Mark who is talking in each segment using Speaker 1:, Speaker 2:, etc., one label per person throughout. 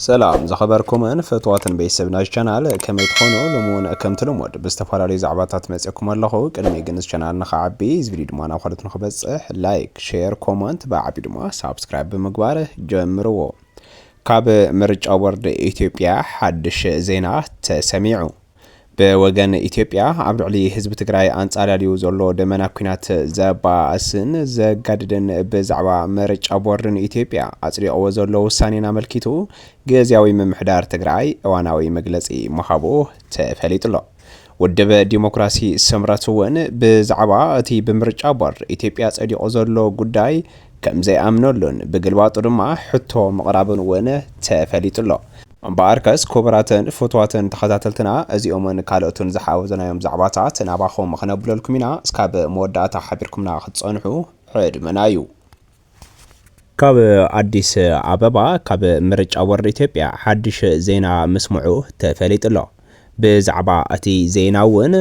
Speaker 1: ሰላም ዝኸበርኩምን ፍትዋትን ቤተሰብ ናይዚ ቻናል ከመይ ትኾኑ ሎሚ እውን ከምቲ ልሙድ ብዝተፈላለዩ ዛዕባታት መፅየኩም ኣለኹ ቅድሚ ግን እዚ ቻናል ንኽዓቢ እዚ ቪድዮ ድማ ናብ ካልኦት ንኽበፅሕ ላይክ ሼር ኮመንት ብዓብዩ ድማ ሳብስክራይብ ብምግባር ጀምርዎ ካብ ምርጫ ቦርድ ኢትዮጵያ ሓድሽ ዜና ተሰሚዑ ብወገን ኢትዮጵያ ኣብ ልዕሊ ህዝቢ ትግራይ ኣንጻላልዩ ዘሎ ደመና ኲናት ዘባእስን ዘጋድድን ብዛዕባ ምርጫ ቦርድ ንኢትዮጵያ ኣጽዲቕዎ ዘሎ ውሳኔን ኣመልኪቱ ግዝያዊ ምምሕዳር ትግራይ እዋናዊ መግለጺ ምሃቡ ተፈሊጡሎ። ውድብ ዲሞክራሲ ስምረት እውን ብዛዕባ እቲ ብምርጫ ቦርድ ኢትዮጵያ ጸዲቑ ዘሎ ጉዳይ ከምዘይኣምነሉን ብግልባጡ ድማ ሕቶ ምቕራቡን እውን ተፈሊጡሎ። እምበኣርከስ ኩቡራትን ፍትዋትን ተኸታተልትና እዚኦምን ካልኦትን ዝሓወዝናዮም ዛዕባታት ናባኹም ክነብለልኩም ኢና እስካብ መወዳእታ ሓቢርኩምና ክትጸንሑ ዕድመና እዩ። ካብ ኣዲስ ኣበባ ካብ ምርጫ ቦርድ ኢትዮጵያ ሓድሽ ዜና ምስምዑ ተፈሊጡ'ሎ። ብዛዕባ እቲ ዜና እውን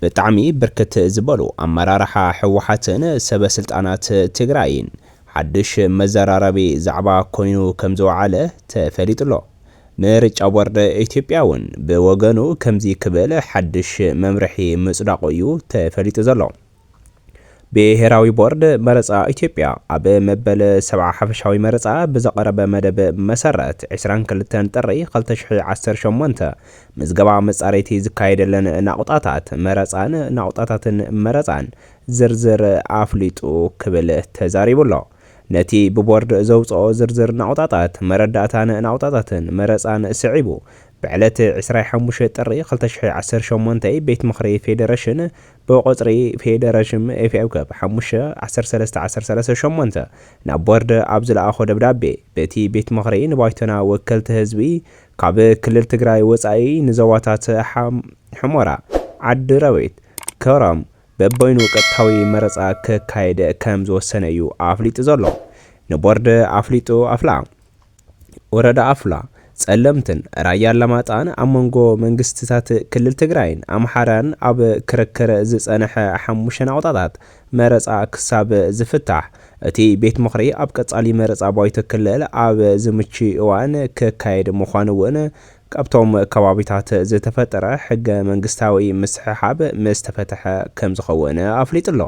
Speaker 1: ብጣዕሚ ብርክት ዝበሉ ኣመራርሓ ህወሓትን ሰበ ስልጣናት ትግራይን ሓዱሽ መዘራረቢ ዛዕባ ኮይኑ ከምዝወዓለ ተፈሊጡ'ሎ። ምርጫ ቦርድ ኢትዮጵያ እውን ብወገኑ ከምዚ ክብል ሓዱሽ መምርሒ ምፅዳቑ እዩ ተፈሊጡ ዘሎ። ብሄራዊ ቦርድ መረፃ ኢትዮጵያ ኣብ መበል ሰብዓ ሓፈሻዊ መረፃ ብዘቐረበ መደብ መሰረት ዕስራን ክልተን ጥሪ ክልተ ሽሕን ዓሰርተ ሸሞንተ ምዝገባ መፃረይቲ ዝካየደለን ናቑጣታት መረፃን ናቑጣታትን መረፃን ዝርዝር ኣፍሊጡ ክብል ተዛሪቡ'ሎ። ነቲ ብቦርድ ዘውፀኦ ዝርዝር ናቑጣታት መረዳእታን ናቑጣታትን መረፃን ስዒቡ ብዕለት ዕስራይ ሓሙሽተ ጥሪ ክልተ ሽሕን ዓሰርተ ሸሞንተይ ቤት ምኽሪ ፌዴሬሽን ብቑጽሪ ፌደረሽም ኤፍኤ ክብ ሓሙሽተ ዓሰርተ ሰለስተ ዓሰርተ ሰለስተ ሸሞንተ ናብ ቦርድ ኣብ ዝለኣኾ ደብዳቤ፣ በቲ ቤት ምኽሪ ንባይቶና ወከልቲ ህዝቢ ካብ ክልል ትግራይ ወጻኢ ንዞባታት ሑመራ፣ ዓዲ ረቢት፣ ከረም በበይኑ ቀጥታዊ መረጻ ክካየድ ከም ዝወሰነ እዩ ኣፍሊጡ ዘሎ ንቦርድ ኣፍሊጡ ኣፍላ። ወረዳ ኣፍላ፣ ፀለምትን ራያ ኣላማጣን ኣብ መንጎ መንግስቲታት ክልል ትግራይን ኣምሓራን ኣብ ክርክር ዝፀንሐ ሓሙሽተ ናቑጣታት መረፃ ክሳብ ዝፍታሕ እቲ ቤት ምኽሪ ኣብ ቀፃሊ መረፃ ባይቶ ክልል ኣብ ዝምችይ እዋን ክካየድ ምዃኑ እውን ካብቶም ከባቢታት ዝተፈጠረ ሕገ መንግስታዊ ምስሕሓብ ምስ ተፈተሐ ከም ዝኸውን ኣፍሊጡ ኣሎ።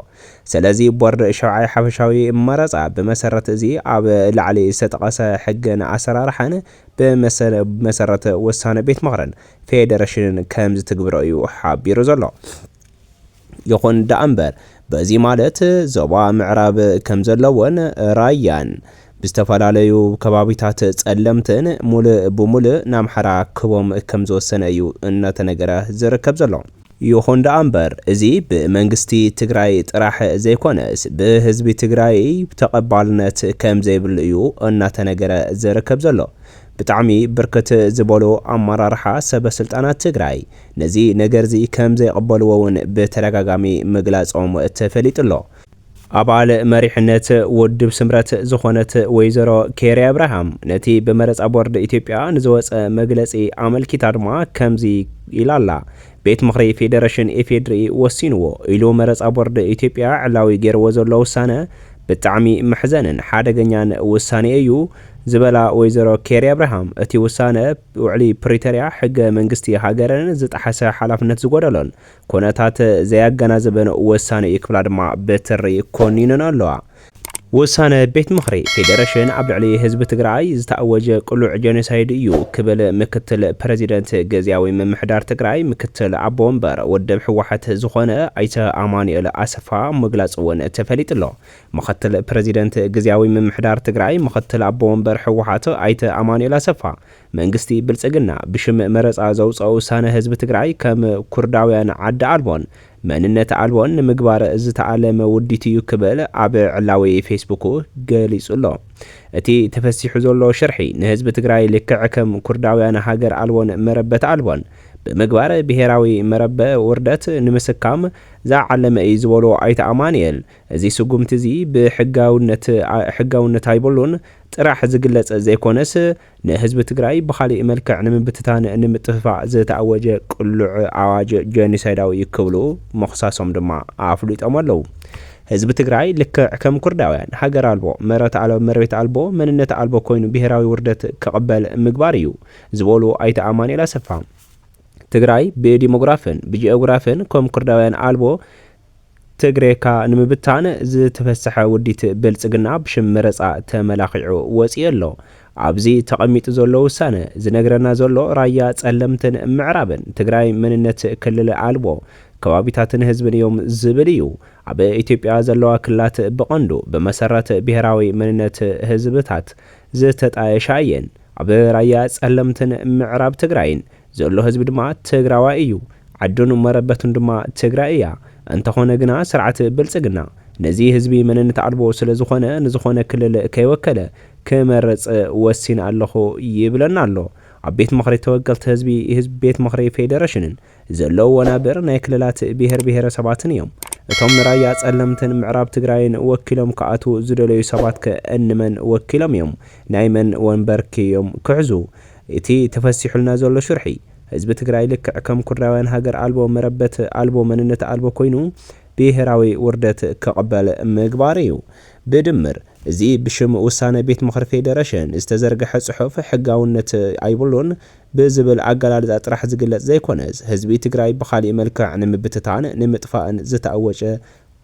Speaker 1: ሰለዚ ቦርድ ሻብዓይ ሓፈሻዊ መረፃ ብመሰረት እዚ ኣብ ላዕሊ ዝተጠቐሰ ሕግን ኣሰራርሓን ብመሰል ብመሰረት ውሳነ ቤት ምኽርን ፌደረሽንን ከም ዝትግብሮ እዩ ሓቢሩ ዘሎ። ይኹን ደኣምበር በዚ ማለት ዞባ ምዕራብ ከም ዘለዎን ራያን ብዝተፈላለዩ ከባቢታት ፀለምትን ሙልእ ብሙልእ ንኣምሓራ ክህቦም ከም ዝወሰነ እዩ እናተነገረ ዝርከብ ዘሎ። ይኹን ደኣምበር እዚ ብመንግስቲ ትግራይ ጥራሕ ዘይኮነስ ብህዝቢ ትግራይ ተቐባልነት ከም ዘይብሉ እዩ እናተነገረ ዝርከብ ዘሎ። ብጣዕሚ ብርክት ዝበሉ ኣመራርሓ ሰበ ስልጣናት ትግራይ ነዚ ነገርዚ ከም ዘይቕበልዎ እውን ብተደጋጋሚ ምግላፆም ተፈሊጡ ኣሎ። ኣባል መሪሕነት ውድብ ስምረት ዝኾነት ወይዘሮ ኬሪ ኣብርሃም ነቲ ብመረፃ ቦርድ ኢትዮጵያ ንዝወፀ መግለፂ ኣመልኪታ ድማ ከምዚ ኢላ ኣላ፣ ቤት ምኽሪ ፌደረሽን ኢፌድሪ ወሲንዎ ኢሉ መረፃ ቦርድ ኢትዮጵያ ዕላዊ ገይርዎ ዘሎ ውሳነ ብጣዕሚ መሕዘንን ሓደገኛን ውሳኔ እዩ ዝበላ ወይዘሮ ኬሪ ኣብርሃም እቲ ውሳነ ውዕሊ ፕሪተርያ ሕገ መንግስቲ ሃገርን ዝጠሓሰ ሓላፍነት ዝጎደሎን ኩነታት ዘያገናዝብን ውሳኔ እዩ ክብላ ድማ ብትሪ ኮኒነንኦ ኣለዋ። ውሳነ ቤት ምኽሪ ፌዴሬሽን ኣብ ልዕሊ ህዝቢ ትግራይ ዝተኣወጀ ቅሉዕ ጄኖሳይድ እዩ ክብል ምክትል ፕረዚደንት ግዚያዊ ምምሕዳር ትግራይ ምክትል ኣቦ ወንበር ውድብ ህወሓት ዝኾነ ኣይተ ኣማኑኤል ኣሰፋ ምግላፁ እውን ተፈሊጡ'ሎ። ምክትል ፕረዚደንት ግዚያዊ ምምሕዳር ትግራይ ምክትል ኣቦ ወንበር ህወሓት ኣይተ ኣማኑኤል ኣሰፋ መንግስቲ ብልፅግና ብሽም መረፃ ዘውፀኦ ውሳነ ህዝቢ ትግራይ ከም ኩርዳውያን ዓዲ ኣልቦን መንነት ኣልቦ ንምግባር ዝተኣለመ ውዲት እዩ ክብል ኣብ ዕላዊ ፌስቡኩ ገሊጹ ኣሎ። እቲ ተፈሲሑ ዘሎ ሽርሒ ንህዝቢ ትግራይ ልክዕ ከም ኩርዳውያን ሃገር ኣልቦን መረበት ኣልቦን ብምግባር ብሄራዊ መረበ ውርደት ንምስካም ዝዓለመ እዩ ዝበሉ ኣይተ ኣማኑኤል እዚ ስጉምቲ እዚ ብሕጋውነት ሕጋውነት ኣይብሉን ጥራሕ ዝግለጽ ዘይኮነስ ንህዝቢ ትግራይ ብኻሊእ መልክዕ ንምብትታን ንምጥፍፋእ ዝተኣወጀ ቅሉዕ ኣዋጅ ጀኒሳይዳዊ እዩ ክብሉ ምኽሳሶም ድማ ኣፍሊጦም ኣለው። ህዝቢ ትግራይ ልክዕ ከም ኩርዳውያን ሃገር ኣልቦ፣ መረት ኣልቦ፣ መሬት ኣልቦ፣ መንነት ኣልቦ ኮይኑ ብሄራዊ ውርደት ክቕበል ምግባር እዩ ዝበሉ ኣይተ ኣማኑኤል ኣሰፋ፣ ትግራይ ብዲሞግራፍን ብጂኦግራፍን ከም ኩርዳውያን ኣልቦ፣ ትግሬካ ንምብታን ዝተፈሰሐ ውዲት ብልጽግና ብሽም መረጻ ተመላኺዑ ወጺኡ ኣሎ። ኣብዚ ተቐሚጡ ዘሎ ውሳነ ዝነግረና ዘሎ ራያ ጸለምትን ምዕራብን ትግራይ መንነት ክልል ኣልቦ ከባቢታትን ህዝብን እዮም ዝብል እዩ። ኣብ ኢትዮጵያ ዘለዋ ክልላት ብቐንዱ ብመሰረት ብሄራዊ መንነት ህዝብታት ዝተጣየሻ እየን። ኣብ ራያ ጸለምትን ምዕራብ ትግራይን ዘሎ ህዝቢ ድማ ትግራዋይ እዩ። ዓዱን መረበቱን ድማ ትግራይ እያ። እንተኾነ ግና ስርዓት ብልፅግና ነዚ ህዝቢ መንነት ኣልቦ ስለዝኾነ ንዝኾነ ክልል ከይወከለ ክመርፅ ወሲነ ኣለኹ ይብለና ኣሎ። ኣብ ቤት ምኽሪ ተወከልቲ ህዝቢ፣ ህዝቢ ቤት ምኽሪ ፌዴሬሽንን ዘለዉ ወናብር ናይ ክልላት ብሄር ብሄረሰባትን እዮም። እቶም ንራያ ፀለምትን ምዕራብ ትግራይን ወኪሎም ክኣትዉ ዝደለዩ ሰባትከ እንመን ወኪሎም እዮም? ናይ መን ወንበርከ እዮም ክሕዙ? እቲ ተፈሲሑልና ዘሎ ሽርሒ፣ ህዝቢ ትግራይ ልክዕ ከም ኩርዳውያን ሃገር ኣልቦ፣ መረበት ኣልቦ፣ መንነት ኣልቦ ኮይኑ ብሄራዊ ውርደት ክቕበል ምግባር እዩ። ብድምር እዚ ብሽም ውሳነ ቤት ምኽሪ ፌደረሽን ዝተዘርገሐ ፅሑፍ ሕጋውነት ኣይብሉን ብዝብል ኣገላልፃ ጥራሕ ዝግለፅ ዘይኮነስ ህዝቢ ትግራይ ብኻሊእ መልክዕ ንምብትታን ንምጥፋእን ዝተኣወጨ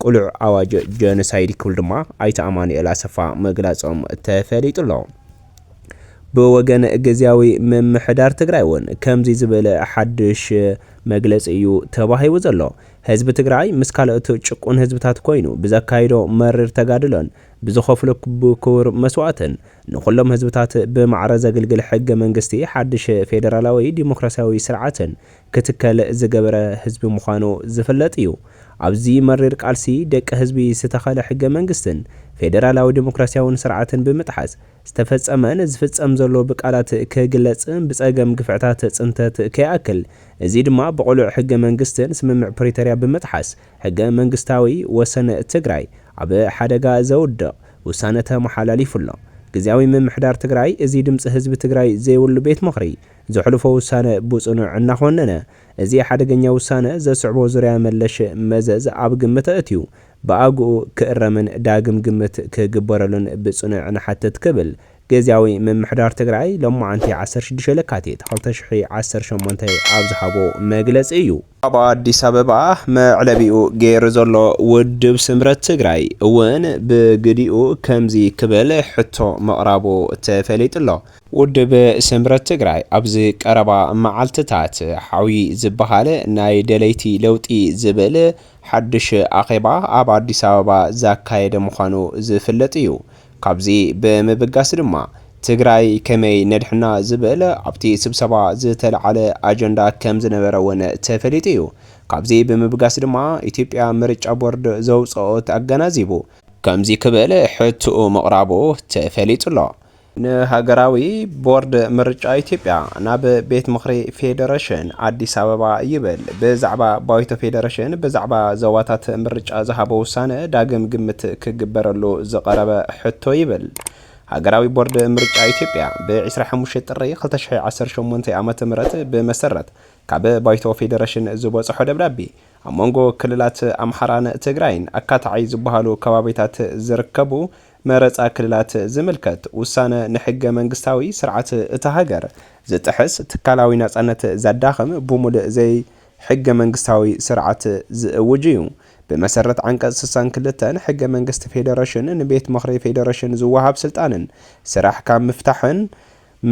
Speaker 1: ቅሉዕ ኣዋጅ ጀኖሳይድ ክብሉ ድማ ኣይተ ኣማኑኤል ኣሰፋ ምግላፆም ተፈሊጡ ኣሎ። ብወገን ግዝያዊ ምምሕዳር ትግራይ እውን ከምዚ ዝብል ሓዱሽ መግለፂ እዩ ተዋሂቡ ዘሎ። ህዝቢ ትግራይ ምስ ካልኦት ጭቁን ህዝብታት ኮይኑ ብዘካይዶ መሪር ተጋድሎን ብዝኸፍሎ ክቡር መስዋእትን ንኹሎም ህዝብታት ብማዕረ ዘግልግል ሕገ መንግስቲ ሓዱሽ ፌደራላዊ ዲሞክራሲያዊ ስርዓትን ክትከል ዝገበረ ህዝቢ ምዃኑ ዝፍለጥ እዩ። ኣብዚ መሪር ቃልሲ ደቂ ህዝቢ ዝተኸለ ሕገ መንግስትን ፌደራላዊ ዴሞክራሲያውን ስርዓትን ብምጥሓስ ዝተፈፀመን ዝፍፀም ዘሎ ብቃላት ክግለፅ ብፀገም ግፍዕታት ፅንተት ከይኣክል እዚ ድማ ብቕሉዕ ሕገ መንግስትን ስምምዕ ፕሪተርያ ብምጥሓስ ሕገ መንግስታዊ ወሰን ትግራይ ኣብ ሓደጋ ዘውድቕ ውሳነ ተመሓላሊፉ ኣሎ። ግዝያዊ ምምሕዳር ትግራይ እዚ ድምፂ ህዝቢ ትግራይ ዘይብሉ ቤት ምኽሪ ዘሕልፎ ውሳነ ብጽኑዕ እናኾነነ፣ እዚ ሓደገኛ ውሳነ ዘስዕቦ ዙርያ መለሽ መዘዝ ኣብ ግምት ኣእትዩ፣ ብኣግኡ ክእረምን ዳግም ግምት ክግበረሉን ብጽኑዕ ንሓትት ክብል ግዝያዊ ምምሕዳር ትግራይ ሎማዕንቲ ዓሰርተ ሽዱሽተ ለካቲት ክልተ ሽሕ ዓሰርተ ሸሞንተ ኣብ ዝሃቦ መግለጺ እዩ። ኣብ ኣዲስ ኣበባ መዕለቢኡ ገይሩ ዘሎ ውድብ ስምረት ትግራይ እውን ብግዲኡ ከምዚ ክብል ሕቶ ምቕራቡ ተፈሊጡ'ሎ። ውድብ ስምረት ትግራይ ኣብዚ ቀረባ መዓልትታት ሓውዪ ዝበሃል ናይ ደለይቲ ለውጢ ዝብል ሓዱሽ ኣኼባ ኣብ ኣዲስ ኣበባ ዛካየደ ምዃኑ ዝፍለጥ እዩ። ካብዚ ብምብጋስ ድማ ትግራይ ከመይ ነድሕና ዝብል ኣብቲ ስብሰባ ዝተልዓለ ኣጀንዳ ከምዝነበረ እውን ተፈሊጡ እዩ። ካብዚ ብምብጋስ ድማ ኢትዮጵያ ምርጫ ቦርድ ዘውፀኦት ኣገናዚቡ ከምዚ ክብል ሕትኡ ምቕራቡ ተፈሊጡ ኣሎ። ንሃገራዊ ቦርድ ምርጫ ኢትዮጵያ ናብ ቤት ምኽሪ ፌዴሬሽን ኣዲስ ኣበባ ይብል ብዛዕባ ባይቶ ፌዴሬሽን ብዛዕባ ዞባታት ምርጫ ዝሃቦ ውሳነ ዳግም ግምት ክግበረሉ ዝቐረበ ሕቶ ይብል ሃገራዊ ቦርድ ምርጫ ኢትዮጵያ ብ25 ጥሪ 2018 ዓ ም ብመሰረት ካብ ባይቶ ፌዴሬሽን ዝበፅሖ ደብዳቤ ኣብ መንጎ ክልላት ኣምሓራን ትግራይን ኣካታዓይ ዝበሃሉ ከባቢታት ዝርከቡ መረፃ ክልላት ዝምልከት ውሳነ ንሕገ መንግስታዊ ስርዓት እታ ሃገር ዝጥሕስ፣ ትካላዊ ናፃነት ዘዳኽም፣ ብሙልእ ዘይሕገ መንግስታዊ ስርዓት ዝእውጅ እዩ። ብመሰረት ዓንቀፅ ስሳን ክልተን ሕገ መንግስቲ ፌዴሬሽን ንቤት ምኽሪ ፌዴሬሽን ዝወሃብ ስልጣንን ስራሕ ካብ ምፍታሕን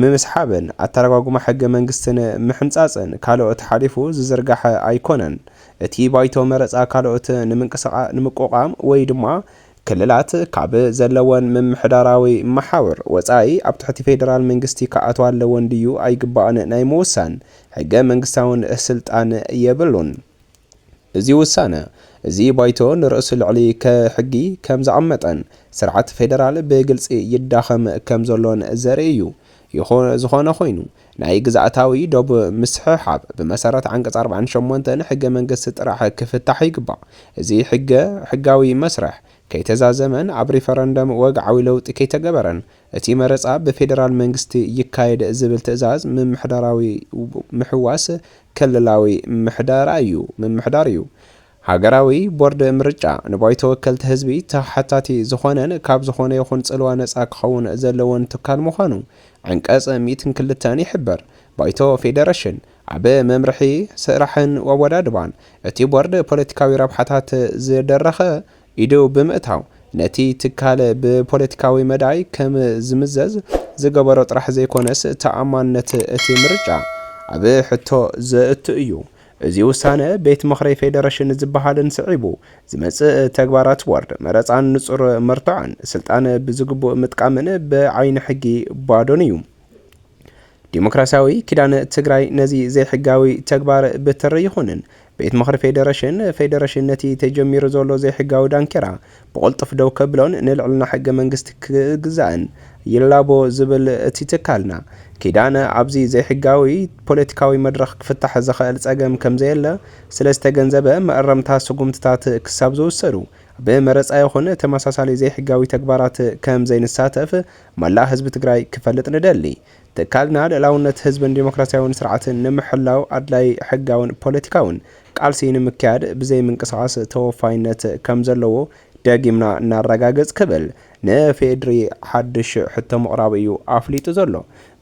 Speaker 1: ምምስሓብን ኣተረጓጉማ ሕገ መንግስትን ምሕንጻጽን ካልኦት ሓሊፉ ዝዝርጋሐ ኣይኮነን። እቲ ባይቶ መረጻ ካልኦት ንምቁቛም ወይ ድማ ክልላት ካብ ዘለወን ምምሕዳራዊ መሓውር ወጻኢ ኣብ ትሕቲ ፌደራል መንግስቲ ክኣትዋ ኣለወን ድዩ ኣይግባእን ናይ ምውሳን ሕገ መንግስታውን ስልጣን የብሉን። እዚ ውሳነ እዚ ባይቶ ንርእሱ ልዕሊ ሕጊ ከም ዝቐመጠን ስርዓት ፌደራል ብግልጺ ይዳኸም ከም ዘሎን ዘርኢ እዩ። ይኹን ዝኾነ ኮይኑ ናይ ግዝኣታዊ ዶብ ምስሕሓብ ብመሰረት ዓንቀጽ ኣርባዕን ሸሞንተን ሕገ መንግስቲ ጥራሕ ክፍታሕ ይግባእ። እዚ ሕገ ሕጋዊ መስርሕ ከይተዛዘመን ኣብ ሪፈረንደም ወግዓዊ ለውጢ ከይተገበረን እቲ መረፃ ብፌደራል መንግስቲ ይካየድ ዝብል ትእዛዝ ምምሕዳራዊ ምሕዋስ ክልላዊ ምምሕዳራ እዩ፣ ምምሕዳር እዩ። ሃገራዊ ቦርድ ምርጫ ንባይቶ ወከልቲ ህዝቢ ተሓታቲ ዝኾነን ካብ ዝኾነ ይኹን ፅልዋ ነፃ ክኸውን ዘለዎን ትካል ምዃኑ ዓንቀፅ ሚእትን ክልተን ይሕብር። ባይቶ ፌደረሽን ኣብ መምርሒ ስራሕን ኣወዳድባን እቲ ቦርድ ፖለቲካዊ ረብሓታት ዝደረኸ ኢዱ ብምእታው ነቲ ትካል ብፖለቲካዊ መዳይ ከም ዝምዘዝ ዝገበሮ ጥራሕ ዘይኮነስ ተኣማንነት እቲ ምርጫ ኣብ ሕቶ ዘእቱ እዩ። እዚ ውሳነ ቤት ምኽሪ ፌደረሽን ዝበሃልን ስዒቡ ዝመፅእ ተግባራት ቦርድ መረፃን ንፁር መርትዖን ስልጣን ብዝግቡእ ምጥቃምን ብዓይኒ ሕጊ ባዶን እዩ። ዲሞክራሲያዊ ኪዳን ትግራይ ነዚ ዘይሕጋዊ ተግባር ብትሪ ይኹንን ቤት ምኽሪ ፌዴሬሽን ፌዴሬሽን ነቲ ተጀሚሩ ዘሎ ዘይሕጋዊ ዳንኬራ ብቕልጡፍ ደው ከብሎን ንልዕልና ሕገ መንግስቲ ክግዛእን ይላቦ ዝብል እቲ ትካልና ኪዳን ኣብዚ ዘይሕጋዊ ፖለቲካዊ መድረኽ ክፍታሕ ዝኸእል ፀገም ከምዘየለ ስለዝተገንዘበ መእረምታ ስጉምትታት ክሳብ ዝውሰዱ ብመረፃ ይኹን ተመሳሳሊ ዘይሕጋዊ ተግባራት ከምዘይንሳተፍ መላእ ህዝቢ ትግራይ ክፈልጥ ንደሊ። ትካልና ልእላውነት ህዝብን ዴሞክራሲያዊን ስርዓትን ንምሕላው ኣድላዪ ሕጋዊን ፖለቲካዊን ቃልሲ ንምክያድ ብዘይ ምንቅስቓስ ተወፋይነት ከምዘለዎ ደጊምና ነረጋግፅ ክብል ንፌድሪ ሓድሽ ሕቶ ምቕራቡ እዩ ኣፍሊጡ ዘሎ።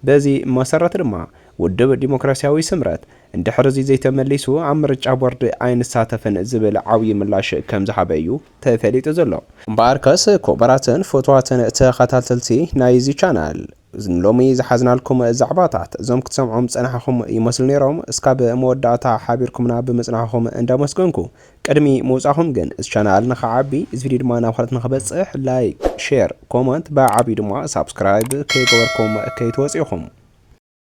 Speaker 1: በዚ መሰረት ድማ ውድብ ዴሞክራሲያዊ ስምረት እንድሕር እዚ ዘይተመሊሱ ኣብ ምርጫ ቦርድ ኣይንሳተፍን ዝብል ዓብዪ ምላሽ ከምዝሃበ እዩ ተፈሊጡ ዘሎ። እምበኣርከስ ኩቡራትን ፍቱዋትን ተኸታተልቲ ናይ እዚ ቻናል ንሎሚ ዝሓዝናልኩም ዛዕባታት እዞም ክትሰምዖም ዝጸናሕኹም ይመስሉ ኔሮም እስካብ መወዳእታ ሓቢርኩምና ብምጽናሕኹም እንዳመስገንኩ ቅድሚ ምውጻኹም ግን እዚ ቻናል ንኽዓቢ እዚ ቪድዮ ድማ ናብ ካልኦት ንኽበጽሕ ላይክ ሼር ኮመንት ብዓብዩ ድማ ሳብስክራይብ ከይገበርኩም ከይትወጹ ኢኹም።